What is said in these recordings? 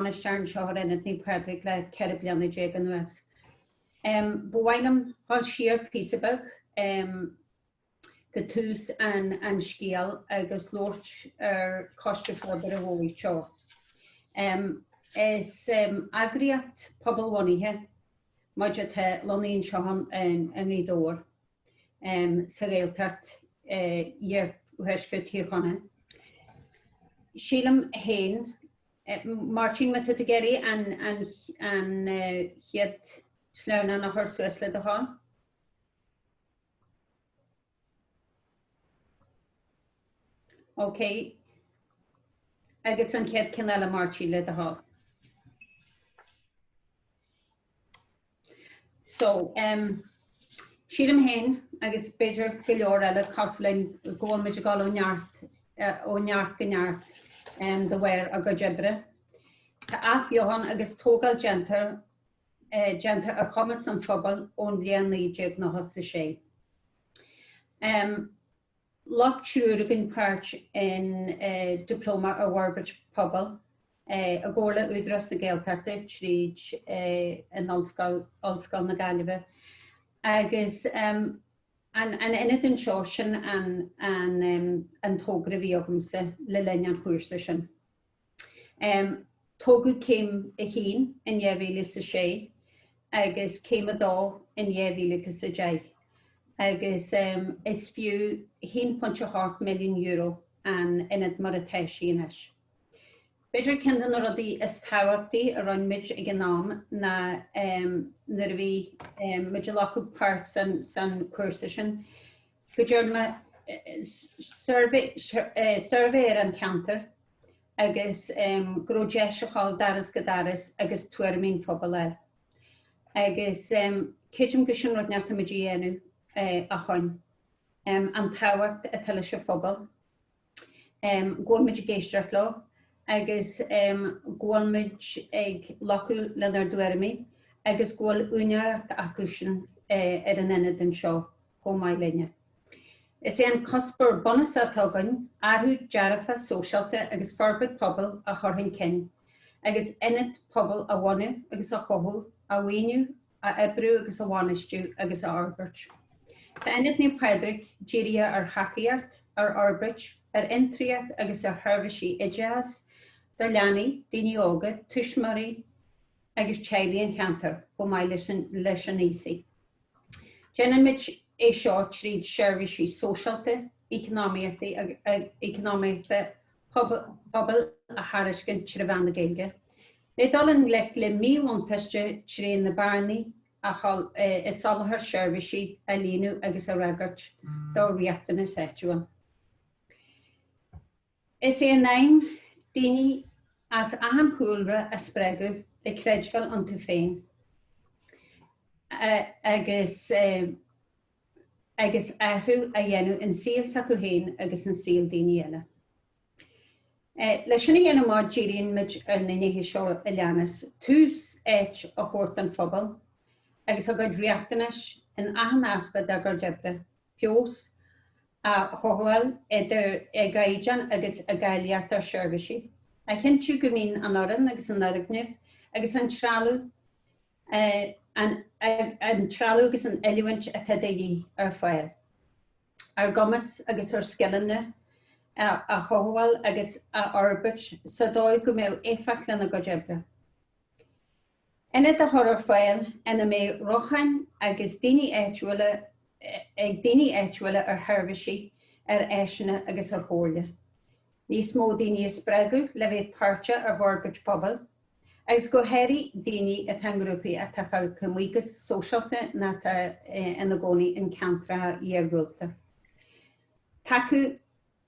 Bainisteoir an Ionaid Naomh Pádraig le ceithre bliana déag anuas. Ba mhaith liom dhul siar píosa beag go tús an scéil agus labhairt ar Choiste Forbartha Dhobhair Teo. Is eagraíocht phobalbhunaithe muid atá lonnaithe anseo i nDobhar, sa Ghaeltacht iarthuaisceart Thír Chonaill. Sílim féin Máirtín, Má tá tú ag iarraidh an chéad sleamhnán a chur suas le do thoil. OK. Agus an chéad ceann eile Máirtín, le do thoil. So, em, sílim féin agus b'fhéidir go leor eile cosúil linn go bhfuil muid ag dul ó neart eh, ó neart go neart em, de bharr ár gcuid oibre. Tá athbheochan agus tógáil déanta eh, déanta ar chumas an phobail ón bhliain 1996. Em, Ghlac triúr againn páirt in Dioplóma ar Fhorbairt Pobail i gcomhar le Údarás na Gaeltachta tríd an Ollscoil, Ollscoil na Gaillimhe agus an Ionad anseo. Sin an tógra a bhí agamsa le linn an chúrsa sin. Tógadh céim a haon in dhá mhíle is a sé agus céim a dó in dhá mhíle is a deich agus is fiú €1.8 milliún an t-ionad mar atá sí anois. B'fhéidir ceann de na rudaí is tábhachtaí a rinn muid ag an am ná nuair a bhí muid ag glacadh páirt san cúrsa sin, go ndearn muid suirbhé suirbhé ar an cheantar agus go raibh deis a ghabháil ó dhoras go doras agus tuairimí an phobail a fháil. Agus creidim go sin rud atá muid a dhéanamh i gcónaí, an tábhacht atá leis an phobal. go bhfuil muid ag éisteacht leo agus go bhfuil muid ag glacadh lena dtuairimí agus go bhfuil úinéireacht acusan ar an Ionad anseo chomh maith linne. Is é an cuspóir bunúsach atá againn athrú dearfach sóisialta agus forbairt pobail a chur chun cinn, agus ionad pobail a bhunú agus a chothú, a mhaoiniú, a oibriú agus a bhainistiú agus a fhorbairt. Tá Ionad Naomh Pádraig dírithe ar thacaíocht, ar fhorbairt, ar fhiontraíocht agus ar sheirbhísí oideachais do leanaí, daoine óga, tuismitheoirí agus teaghlaigh an cheantair, chomh maith leis na haosaigh. Déanaimid é seo tríd seirbhísí sóisialta, eacnamaíochta pobail a thairiscint trí mheán na Gaeilge, le dul i ngleic le míbhuntáiste trí na bearnaí i soláthar seirbhísí a líonadh agus a fhreagairt do riachtanais áitiúil. Is é an aidhm daoine as achan chúlra a spreagadh le creidbheáil iontu féin agus, agus athrú a dhéanamh in saol s'acu féin agus in saol daoine eile. Leis sin a dhéanamh ámh, díríonn muid ar na nithe seo a leanas, tús áit a thabhairt don phobal agus a gcuid riachtanais in achan aspect dár gcuid oibre, feabhas a chothabháil idir i gcaighdeán agus i gcáilíocht ár seirbhísí, a chinntiú go mbíonn an fhoireann agus an foirgneamh agus an trealamh an trealamh agus an oiliúint atá de dhíth ar fáil, ár gcumas agus ár scileanna a chothabháil agus a fhorbairt sa dóigh go mbeidh éifeacht lena gcuid oibre. Ionaid a chur ar fáil ina mbeidh rochtain agus daoine áitiúla ag daoine áitiúla ar sheirbhísí, ar áiseanna agus ar chomhairle. Níos mó daoine a spreagadh le bheith páirteach i bhforbairt pobail agus go háirithe daoine atá i ngrúpaí atá fágtha amuigh go sóisialta nó atá ina gcónaí in ceantracha iargúlta. Tacú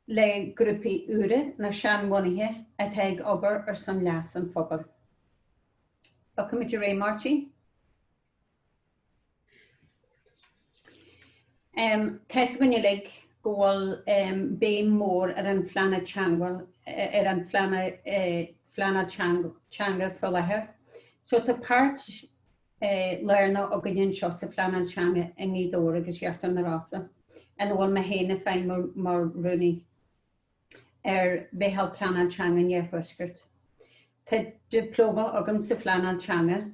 le grúpaí úra nó seanbhunaithe atá ag obair ar son leas an phobail. OK, maith go leor, Máirtín. Tá fhios againn uilig go bhfuil béim mhór ar an phleanáil teanga ar an pleanáil phleanáil teanga faoi láthair so tá páirt lárnach againn anseo sa phleanáil teanga i nGaoth Dobhair agus Íochtar na Rosann ina bhfuil mé féin ag feidhmiú mar rúnaí. ar Mheitheal Pleanáil Teanga an Iarthuaiscirt. Tá dioplóma agam sa phleanáil teanga.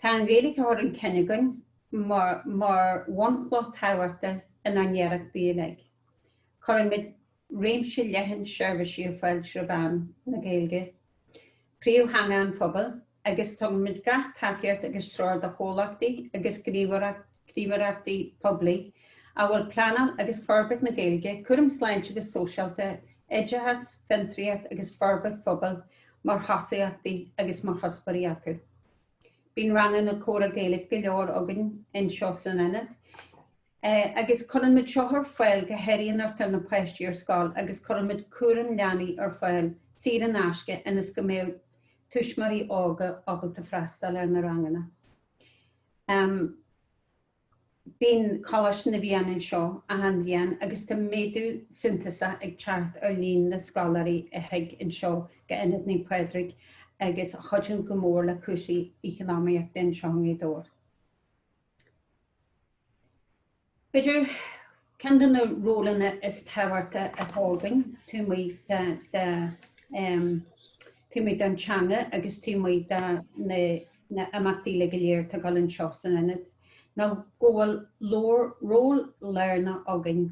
Tá an Ghaeilge á cur chun cinn againn mar bhunchloch tábhachtach inár n-iarrachtaí uilig. Cuirimid réimse leathan seirbhísí ar fáil trí mheán na Gaeilge. príomhtheanga an phobail agus tugaimid gach tacaíocht agus treoir do chomhlachtaí agus gníomhaireachtaí poiblí, a bhfuil pleanáil agus forbairt na Gaeilge, cúram sláinte agus sóisialta, oideachas, fiontraíocht agus forbairt phobail mar thosaíochtaí agus mar chuspóirí acu. Bíonn ranganna comhrá Gaeilge go leor againn anseo san Ionad. Agus cuireann muid seo ar fáil go háirithe nuair atá na páistí ar scoil agus cuireann muid cúram leanaí ar fáil saor in aisce ionas go mbeadh tuismitheoirí óga ábalta freastáil ar na ranganna. Bíonn Coláiste na bhFiann anseo achan bhliain agus tá méadú suntasach ag teacht ar líon na scoláirí a thig anseo go Ionad Naomh Pádraig agus a chuideann go mór le cúrsaí eacnamaíochta anseo i nGaoth Dobhair. B'fhéidir, ceann de na rólanna is tábhachtacha atá againn, taobh amuigh de, taobh amuigh den teanga agus taobh amuigh de na himeachtaí uilig go léir atá againn anseo san Ionad, ná go bhfuil ról lárnach againn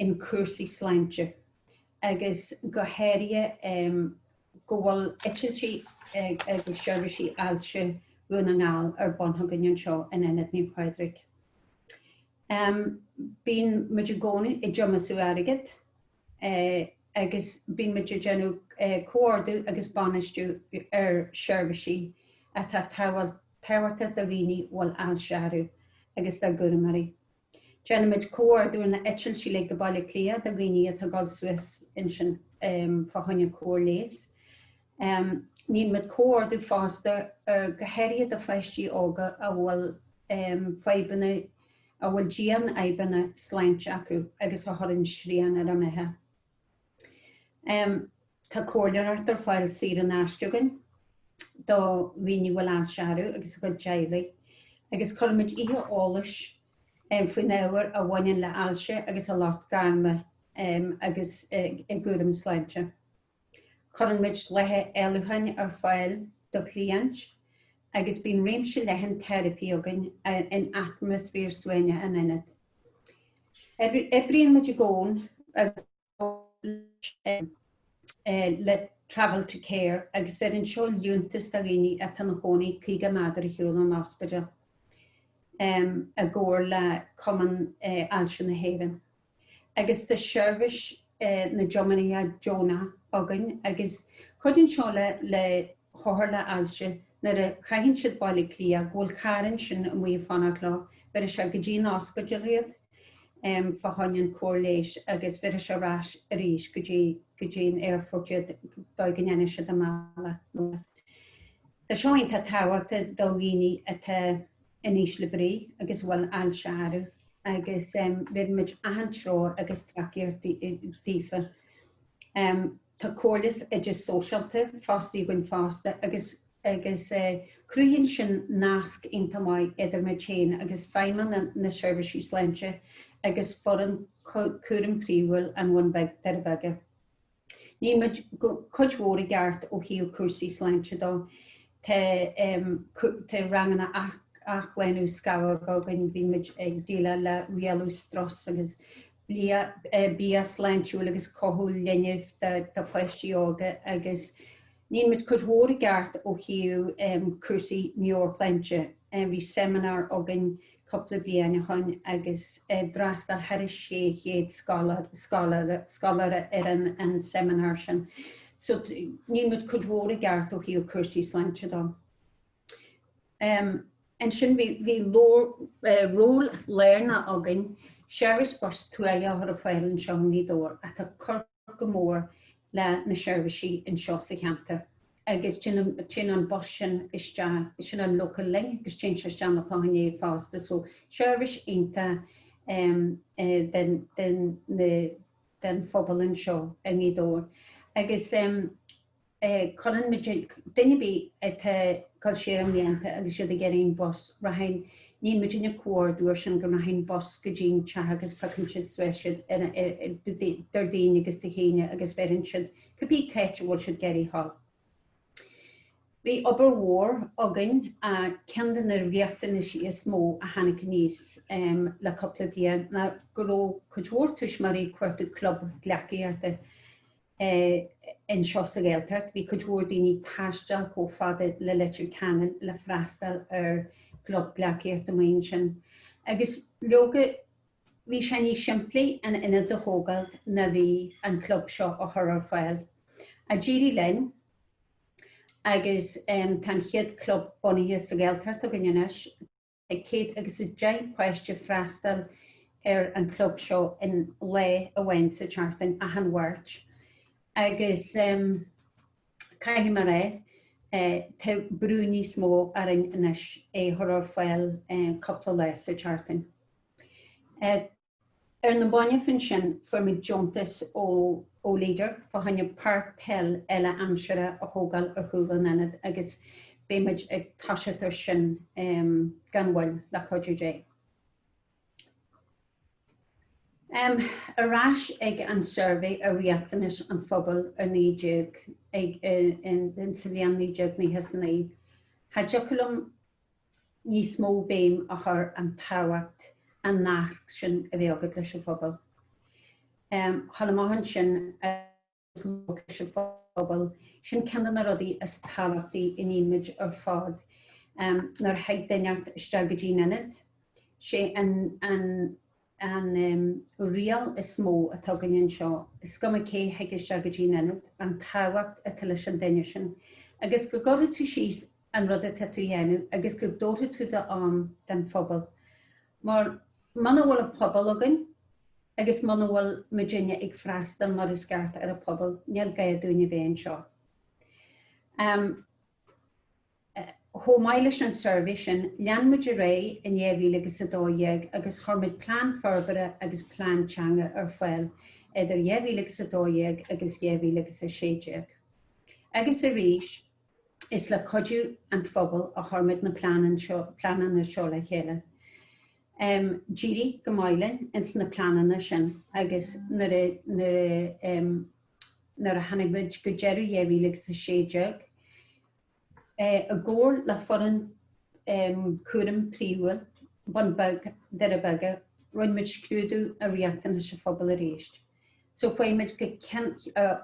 in cúrsaí sláinte agus go háirithe, go bhfuil eitiltí agus seirbhísí ailse Dhún na nGall ar bun againn anseo in Ionad Naomh Pádraig. Bíonn muid i gcónaí ag tiomsú airgid agus bíonn muid ag déanamh comhordú agus bainistiú ar sheirbhísí atá tábhachtach do dhaoine a bhfuil ailse orthu agus dá gcúramóirí. Déanaimid comhordú ar na heitiltí uilig go Baile Átha Cliath do dhaoine atá ag dul suas ansin fá choinne cóir leighis. Níonn muid comhordú fosta go háirithe do pháistí óga a bhfuil fadhbanna, a bhfuil dian-fhadhbanna sláinte acu agus a chuireann srian ar a mbeatha. Tá comhairleoireacht ar fáil saor in aisce againn do dhaoine a bhfuil ailse orthu agus a gcuid teaghlaigh, agus cuireann muid oíche eolais faoin ábhar a bhaineann le hailse agus a lucht gairme agus a gcúram sláinte. Cuireann muid laetha éalúcháin ar fáil do chliaint agus bíonn réimse leathan teiripí againn in atmaisféar suaimhneach an ionaid. Oibríonn muid i gcónaí i gcomhar le Travel to Care agus bheireann seo liúntas do dhaoine atá ina chónaí 50 méadar ar shiúl ón ospidéal, i gcomhar le Cumann Ailse na hÉireann. Agus tá seirbhís na dtiománaithe deonacha againn agus cuidíonn seo le hothair le hailse, nuair a shroicheann siad Baile Átha Cliath, go bhfuil carr ansin amuigh ag fanacht leo, bheireann sé go dtí an ospidéal iad, fá choinne an chóir leighis, agus bheireann sé ar ais arís go dtí, go dtí an aerfort iad, dóigh go ndéanfadh siad a mbealach 'na bhaile. Tá seo iontach tábhachtach do dhaoine atá in ísle brí agus a bhfuil ailse orthu, agus bheireann muid achan treoir agus tacaíocht daofa. Tá comhairle sa oide sóisialta fostaithe againn fosta agus agus cruthaíonn sin nasc iontach maith idir muid féin agus Feidhmeannacht na Seirbhíse sláinte agus foireann cúraim phríomhúil an Bhun Bhig Doirí Beaga. Níonn muid cuid mhór i gceart ó thaobh cúrsaí sláinte dó. Tá tá ranganna athshlánú scamhóg againn, bíonn muid ag déileáil le rialú strus agus bia sláintiúil agus cothú linbh do pháistí óga agus níonn muid cuid mhór i gceart ó thaobh cúrsaí meabhairshláinte. Bhí seimineár againn cúpla bliain ó shin agus d'fhreastail thairis 600 scoláire, scoláire ar an seimineár sin. So níonn muid cuid mhór i gceart ó thaobh cúrsaí sláinte dó. Ansin bhí ról lárnach againn, Seirbhís Bus Tuaithe a chur ar fáil anseo i nGaoth Dobhair, atá ag cur go mór le na seirbhísí anseo sa cheantar, agus téann an bus sin isteach, sin an Local Link, agus téann sé isteach 'na Chlocháin Léith fosta, so seirbhís iontach don phobal anseo i nGaoth Dobhair. Agus Cuireann muid duine ar bith atá ag dul siar i mblianta agus iad ag iarraidh an bus, rachann, níonn muidinne comhordú ar sin, go rachann bus go dtí'n teach agus piocann siad suas siad d'fir daoine agus de chine agus bheireann siad cibé áit a bhfuil siad ag iarraidh a ghabháil. Bhí obair mhór againn ach ceann de na riachtanaisí is mó a tháinig aníos le cúpla bliain ná go raibh cuid mhór tuismitheoirí ag cuartú club gleacaíochta. é anseo sa Ghaeltacht. Bhí cuid mhór daoine ag taisteal chomh fada le Leitir Ceanainn le freastal ar chlub gleacaíochta amuigh ansin. Agus leoga, bhí sé níos simplí an ionad a thógáil ná bhí an club seo a chur ar fáil. Ach d'éirigh linn agus tá an chéad chlub bunaithe sa Ghaeltacht againn anois. ag 100 agus 10 páiste ag freastal ar an chlub seo aon lá amháin sa tseachtain, achan Mháirt. Agus caithfidh mé a rá, tá brú níos mó orainn anois é a chur ar fáil cúpla lá sa tseachtain. Ar na mallaibh ansin, fuair muid deontas ó Leader fá choinne páirc peile uile-aimsire a thógáil ar chúl an ionaid agus beidh muid ag toiseacht ar sin gan mhoill, le cuidiú Dé. Ar ais ag an suirbhé ar riachtanais an phobail ar 19, sa bhliain 1999. Cha dtiocfadh liom níos mó béim a chur ar an tábhacht an nasc sin a bheith agat leis an phobal. A ghabháil amach ansin agus bualadh leis an phobal, sin ceann de na rudaí is tábhachtaí a níonn muid ar fad nuair a thig duine isteach go dtí an Ionad, sé an. An riail is mó atá againn anseo, is cuma cé thig isteach go dtí'n ionad, an tábhacht atá leis an duine sin, agus go gcuirfidh tú síos an rud atá tú a dhéanamh agus go dtabharfaidh tú d'am don phobal. Mar muna bhfuil an pobal againn agus muna bhfuil muidinne ag freastal mar is ceart ar an bpobal, níl gá dúinn a bheith anseo. Chomh maith leis an suirbhé sin, lean muid ar aghaidh in 2012 agus chuir muid plean forbartha agus plean teanga ar fáil idir 2012 agus 2016. Agus arís, is le cuidiú an phobail a chuir muid na pleananna seo le chéile. D'éirigh go maith linn ins na pleananna sin agus nuair a tháinig muid go deireadh 2016, i gcomhar le foireann cúraim phríomhúil Bun Beag, Doire Beaga, rinn muid scrúdú ar riachtanais an phobail arís. Socraigh muid gabháil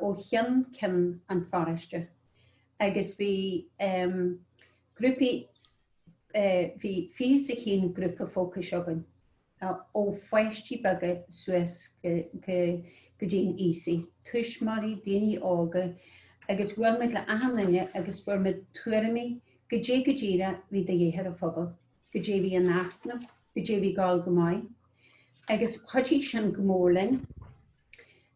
ó cheann ceann an pharóiste agus bhí grúpaí, bhí fiche a haon grúpa fócais againn. ó pháistí beaga suas go dtí na haosaigh, tuismitheoirí, daoine óga, agus bhuail muid le achan duine agus fuair muid tuairimí, goidé go díreach bhí de dhíth ar an phobal, goidé bhí in easnamh, goidé bhí ag gabháil go maith. Agus chuidigh sin go mór linn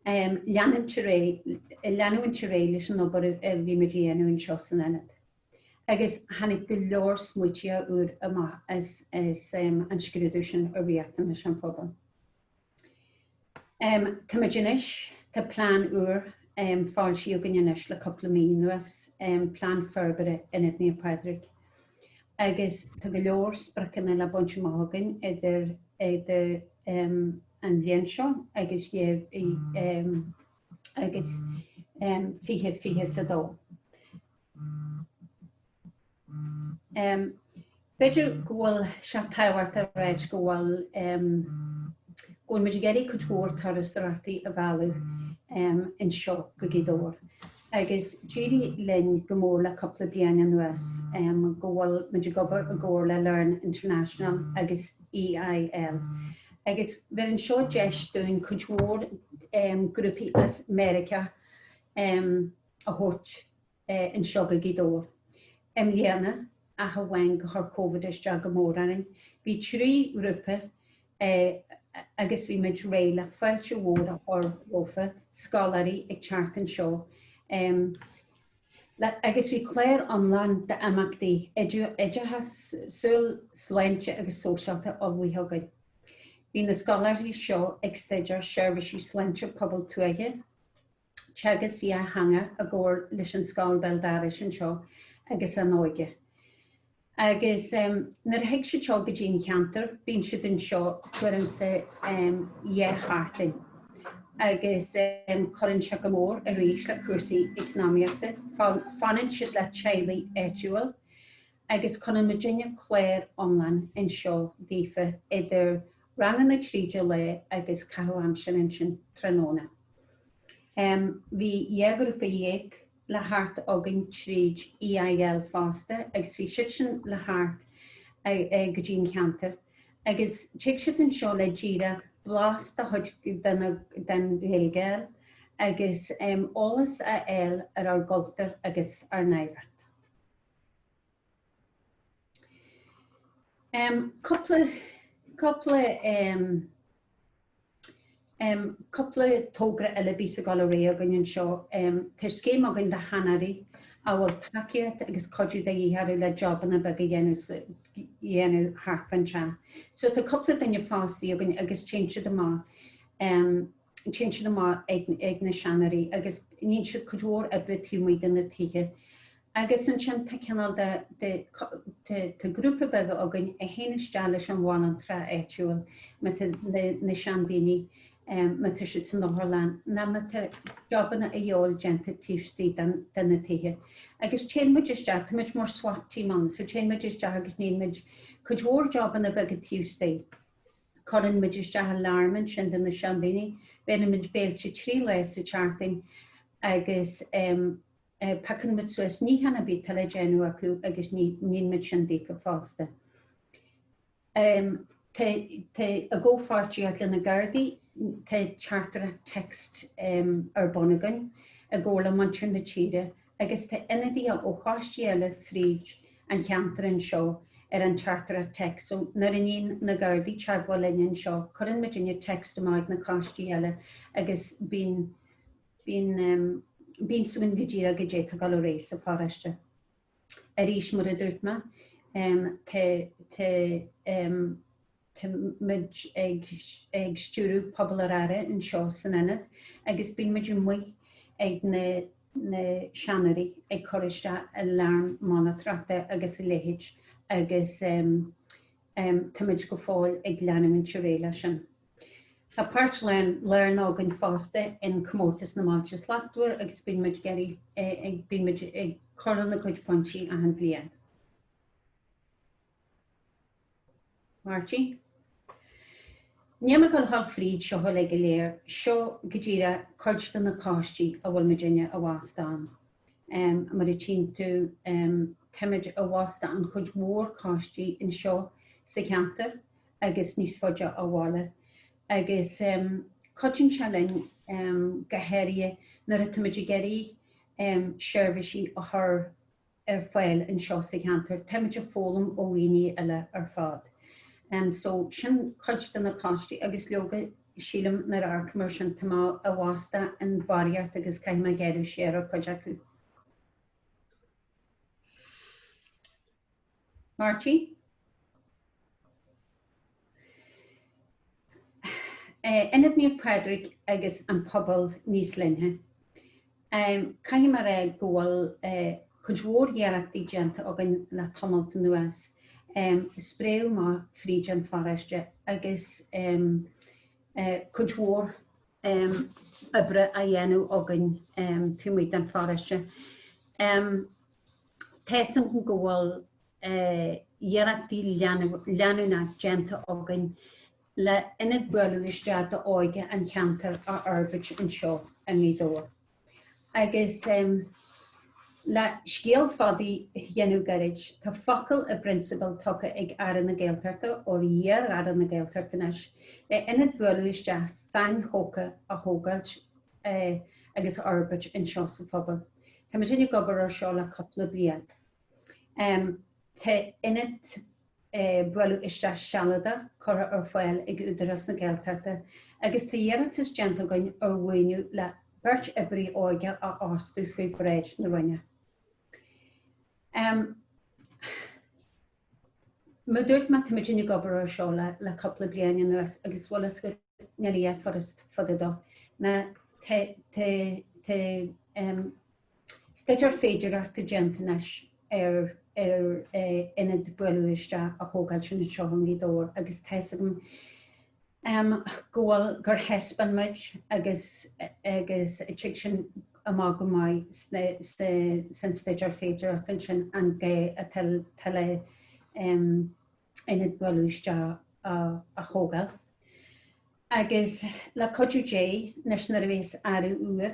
leanúint ar aghaidh leis an obair a bhí muid a dhéanamh anseo san Ionad. agus tháinig go leor smaointí úra amach as an scrúdú sin ar riachtanais an phobail. Táimid anois, tá plean úr foilsithe againn anois le cúpla mí anuas, plean forbartha Ionad Naomh Pádraig, agus tá go leor spriocanna le baint amach againn idir an bhliain seo agus 2022. B'fhéidir go bhfuil sé tábhachtach a ráit go bhfuil muid ag iarraidh cuid mhór turasóireachta a mhealladh anseo go Gaoth Dobhair agus d'éirigh linn go mór le cúpla bliain anuas go bhfuil muid ag obair i gcomhar le Learn International agus EIL agus bheir seo deis dúinn cuid mhór grúpaí as Meiriceá a a thabhairt anseo go Gaoth Dobhair. I mbliana, ach amháin gur chuir Covid isteach go mór orainn, bhí trí ghrúpa agus bhí muid réidh le fáilte mhór a chur rompu, scoláirí ag teacht anseo agus bhí clár iomlán d'imeachtaí oideachasúil, sláinte agus sóisialta ullmhaithe againn. Bhí na scoláirí seo ag staidéar seirbhísí sláinte pobail tuaithe. teagasc dhá theanga i gcomhar leis an Scoil Vaildares anseo agus An Óige. Agus nuair a thig siad seo go dtí an cheantar bíonn siad anseo tuairim 's dhá sheachtain agus cuireann seo go mór arís le cúrsaí eacnamaíochta. Fanann siad le teaghlaigh áitiúil agus cuireann muidinne clár iomlán anseo daofa idir ranganna tríd an lae agus caitheamh aimsire ansin tráthnóna. Em, bhí dhá ghrúpa dhéag le theacht againn tríd EIL fosta agus bhí siadsan le theacht a, a, go dtí an cheantar agus tig siad anseo le díreach blas de chuid de na, den Ghaeilge a fháil agus em, eolas a fháil ar ár gcultúr agus ár n-oidhreacht. Cúpla togra eile a bhíos ag dul ar aghaidh againn anseo. Tá scéim againn do sheanóirí, a bhfuil tacaíocht agus cuidiú de dhíth orthu le jobanna beaga a dhéanamh thart fán teach. So tá cúpla duine fostaithe againn agus téann siad amach, téann siad amach ag na seanóirí agus níonn siad cuid mhór oibre taobh amuigh de na tithe. Agus ansin tá cineál de, de, de, tá grúpa beag againn a théann isteach leis an bhanaltra áitiúil, má tá na, na seandaoine, má tá siad san otharlann, ná má tá jobanna a fháil déanta taobh istigh den, de na tithe. Agus téann muid isteach, tá muid mar swat team ann, so téann muid isteach agus níonn muid cuid mhór jobanna beaga taobh istigh. Cuireann muid isteach alarm ansin do na seandaoine, bheireann muid béilte trí lá sa tseachtain agus, Piocann muid suas níochán ar bith atá le déanamh acu agus níonn muid sin daofa fosta. Tá i gcomhpháirtíocht le na Gardaí, tá teachtaireacht, text, ar bun againn i gcomhar le Muintir na Tíre agus tá ionadaithe ó choistí eile fríd an cheantar anseo ar an teachtaireacht, text, so nuair a níonn na Gardaí teagmháil linn anseo, cuireann muidinne text amach ag na coistí eile agus bíonn. Bíonn, bíonn suim go díreach go dté togáil a raibh sa pharáiste. Arís, mar a dúirt mé, tá, tá, tá muid ag, ag stiúradh Pobal ar Aire anseo san Ionad agus bíonn muid amuigh ag na, na seanóirí ag cur isteach aláraim monatóireachta agus a leithéid agus tá muid go fóill ag leanúint ar aghaidh leis sin. Tá páirt lárnach againn fosta in Comórtas na mBailte Slachtmhar agus bíonn muid ag cur lena gcuid pointí achan bhliain. Marty, níl mé ag gabháil a dhul fríd seo uilig go léir, seo go díreach cuid de na coistí a bhfuil muidinne i bhfastó ann. Mar a tchíonn tú, táimid i bhfastó i gcuid mhór coistí anseo sa cheantar agus níos faide ó bhaile, agus cuidíonn sé linn go háirithe nuair atáimid ag iarraidh seirbhísí a chur ar fáil anseo sa cheantar, táimid ag foghlaim ó dhaoine eile ar fad. So, sin cuid de na coistí, agus leoga, sílim, nuair a amharcaim ar sin, tá mé i bhfastó i mbarraíocht agus caithfidh mé gearradh siar ar chuid acu. Marty, Ionad Naomh Pádraig agus an pobal níos leithne. Caithfidh mé a rá go bhfuil cuid mhór iarrachtaí déanta againn le tamalt anuas, spréite amach fríd an pharáiste agus cuid mhór oibre á dhéanamh againn taobh amuigh den pharáiste. Tá a fhios againn go bhfuil iarrachtaí leanúnacha déanta againn le ionad bualadh isteach d'óige an cheantair a fhorbairt anseo i nGaoth Dobhair agus le scéal fada a dhéanamh gairid, tá focal i bprionsabal tugtha ag Aire na Gaeltachta, nó iar-Aire na Gaeltachta anois, le ionad bualadh isteach sainthógtha a thógáilt agus a fhorbairt anseo sa phobal. Tá muidinne ag obair ar seo le cúpla bliain. Tá ionad bualadh isteach sealadach curtha ar fáil ag Údarás na Gaeltachta agus tá iarratas déanta againn ar mhaoiniú le beirt oibrí óige a fhostú faoi bhráid na Roinne. Mar a dúirt mé, tá muidinne ag obair ar seo le cúpla bliain anuas agus bhfuil fhios agat, níl a dhath furast fada dó. Ná tá staidéar féidireachta déanta anois ar ionad bualadh isteach a thógáilt anseo i nGaoth Dobhair agus tá's agam go bhfuil, gur thaispeáin muid agus agus dtig sin amach go maith sna sna san staidéar féidearthacht ansin an gá atá le ionad buail isteach a a thógáil agus le cuidiú Dé anois nuair a bhíos aire úr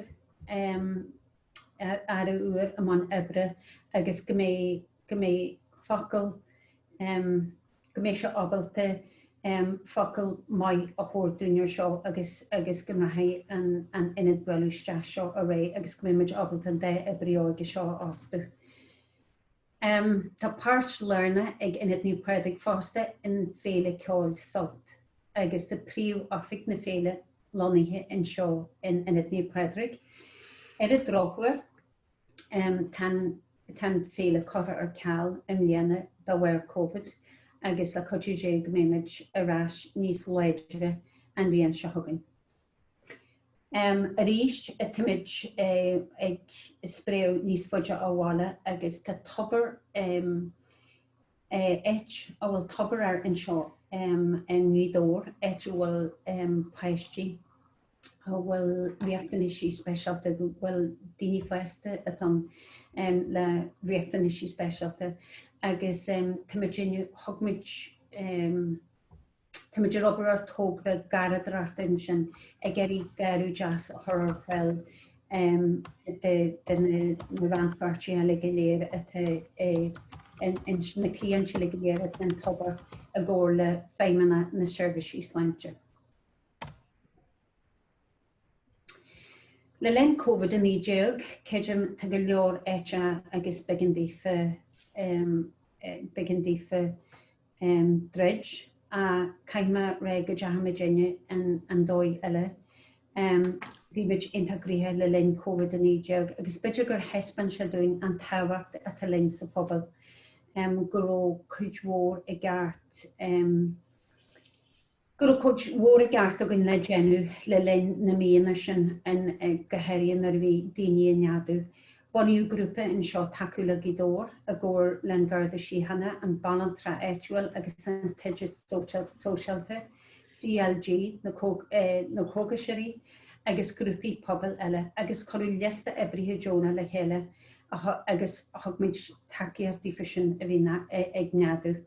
aire úr i mbun oibre agus go mbeidh go mbeidh focal go mbeidh sé ábalta focal maith a thabhairt dúinn ar seo agus agus go mbeidh an an Ionad buail isteach seo ar fáil agus go mbeidh muid ábalta an dá oibrí óige seo a fhostú. Tá páirt lárnach ag Ionad Naomh Pádraig fosta in Féile Ceoil Sult agus tá príomh-oifig na féile lonnaithe anseo in Ionad Naomh Pádraig. Ar an drochuair, Tá an Féile curtha ar ceal i mbliana de bharr Covid agus le cuidiú Dé go mbeidh muid ar ais níos láidre an bhliain seo chugainn. Arís táimid ag spréadh níos faide ó bhaile agus tá Tobar áit a bhfuil Tobar anseo i nGaoth Dobhair, áit a bhfuil páistí a bhfuil riachtanaisí speisialta acu, bhuel, daoine fásta atá ann le riachtanaisí speisialta agus tá muid, thug muid, Táimid ag obair ar thogra garraíodóireachta ansin, ag iarraidh garradh deas a chur ar fáil do na rannpháirtithe uilig go léir, na cliaint uilig go léir atá in Tobar i gcomhar le Feidhmeannacht na Seirbhíse sláinte. Le linn Covid-19, creidim, tá go leor áiteanna agus b'éigean daofa, b'éigean daofa druid ach caithfimid rá go dteachaidh muidinne an dóigh eile. Bhí muid iontach gnoitheach le linn Covid-19 agus b'fhéidir gur thaispeáin sé dúinn an tábhacht atá linn sa phobal, go raibh cuid mhór i gceist. go raibh cuid mhór i gceist againn le déanamh le linn na míonna sin go háirithe nuair a bhí daoine ag neadú. Bunaíodh grúpa anseo Tacú le Gaoth Dobhair i gcomhar le An Garda Síochána, An Banaltra Áitiúil agus An tIonad Sóisialta, CLG, Na Cógaiseoirí agus grúpaí pobail eile agus cuireadh liosta oibrithe deonacha le chéile agus thug muid tacaíocht daofa sin a bhí ag neadú.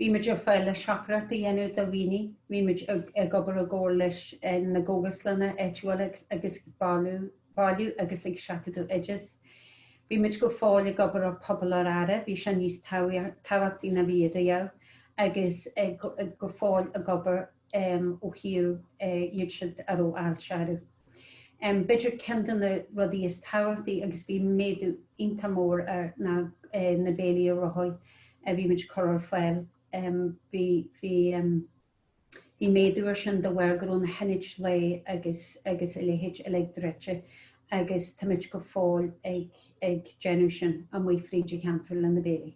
Bhí muid ar fáil le siopadóireacht a dhéanamh do dhaoine, bhí muid ag obair i gcomhar leis na gcógaslanna áitiúila agus ag bailiú agus ag seachadadh oideas. Bhí muid go fóill ag obair ar Phobal ar Aire, bhí sé níos tábhachtaí ná bhí riamh, agus go fóill ag obair ó thaobh iad siúd a raibh aistriú orthu. B'fhéidir ceann de na rudaí is tábhachtaí, agus bhí méadú iontach mór air, ná na béilí ar rothaí a bhí muid ag cur ar fáil. Bhí bhí bhí méadú ar sin de bharr go raibh na hionaid lae agus agus a leithéid uilig druidte agus tá muid go fóill ag ag déanamh sin amuigh fríd an cheantar le na béilí.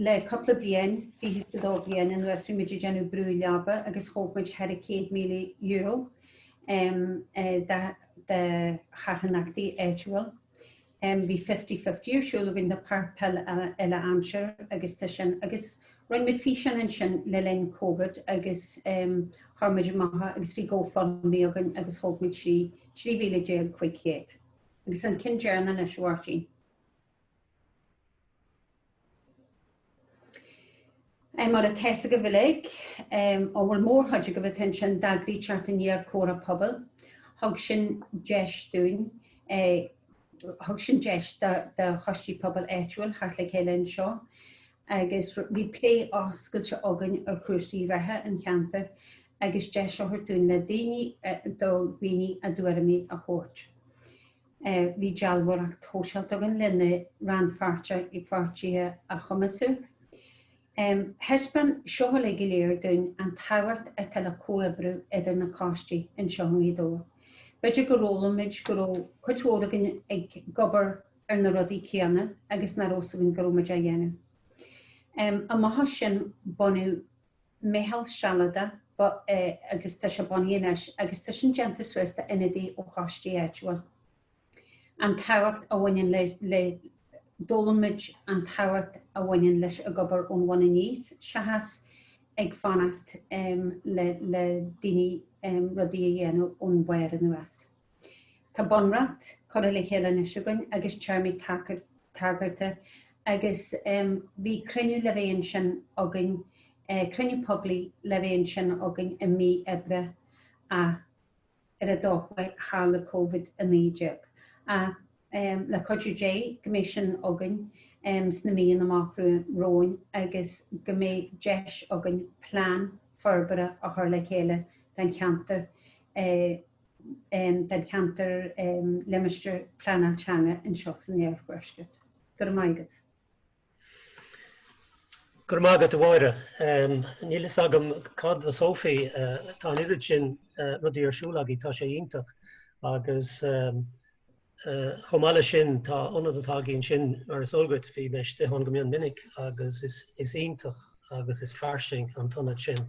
Le cúpla bliain, fiche is a dó bliain anuas, bhí muid ag déanamh brú leaba agus thóg muid thar €100,000 do charthanachtaí áitiúil. Bhí Fifty Fifty ar siúl againn do pháirc pheile uile-aimsire agus tá sin. Agus roinn muid físeáin ansin le linn Covid agus chuir muid amach agus bhí GoFundMe againn agus thóg muid 13,500. Agus an ceann deireanach anois a Mháirtín. Mar a tá 's agaibh uilig, an bhfuil mórchuid agaibh atá ansin, d'eagraíodh ceardlann chomhairliúcháin pobail. Thug sin deis dúinn, thug sin deis do choistí pobail áitiúil theacht le chéile anseo agus bhí plé oscailte againn ar chúrsaí reatha an cheantair agus deis a thabhairt dúinn le daoine, do dhaoine a dtuairimí a thabhairt. Bhí dealbhóireacht shóisialta againn lena rannpháirtíocht ag pháirtithe a chumasú. Thaispeáin seo uilig go soiléir dúinn an tábhacht atá le comhoibriú idir na coistí anseo i nGaoth Dobhair. B'fhéidir go rabhaimid, go raibh cuid mhór againn ag obair ar na rudaí céanna agus nach raibh a fhios againn go raibh muid á dhéanamh. Amach as sin bunaíodh Meitheal Sealadach agus tá sé bunaithe anois agus tá sin déanta suas d'ionadaí ó choistí áitiúil. An tábhacht a bhaineann le, le, d'fhoghlaim muid an tábhacht a bhaineann le bheith ag obair ón bhun aníos seachas ag fanacht le, le, le daoine rudaí a dhéanamh ón bharr anuas. Tá bunreacht curtha le chéile anois againn agus téarmaí tagartha agus bhí cruinniú le bheith ansin againn, cruinniú poiblí le bheith ansin againn i mí Aibreá ach ar ndóigh tharla Covid-19. Ach le cuidiú Dé go mbeidh sin againn sna míonna amach romhainn agus go mbeidh deis againn plean forbartha a chur le chéile don cheantar. den cheantar Limistéir Pleanáil Teanga anseo san Iarthuaisceart. Go raibh maith agat. Go raibh maith agat, a Mháire. Níl a fhios agam cad do Sophie, tá an oiread sin rudaí ar siúl agaí, tá sé iontach agus chomh maith leis sin tá ionad atá agaí ansin mar is eol dhuit, bhí mé istigh ann go mion minic agus is iontach agus is fairsing an t-ionad sin.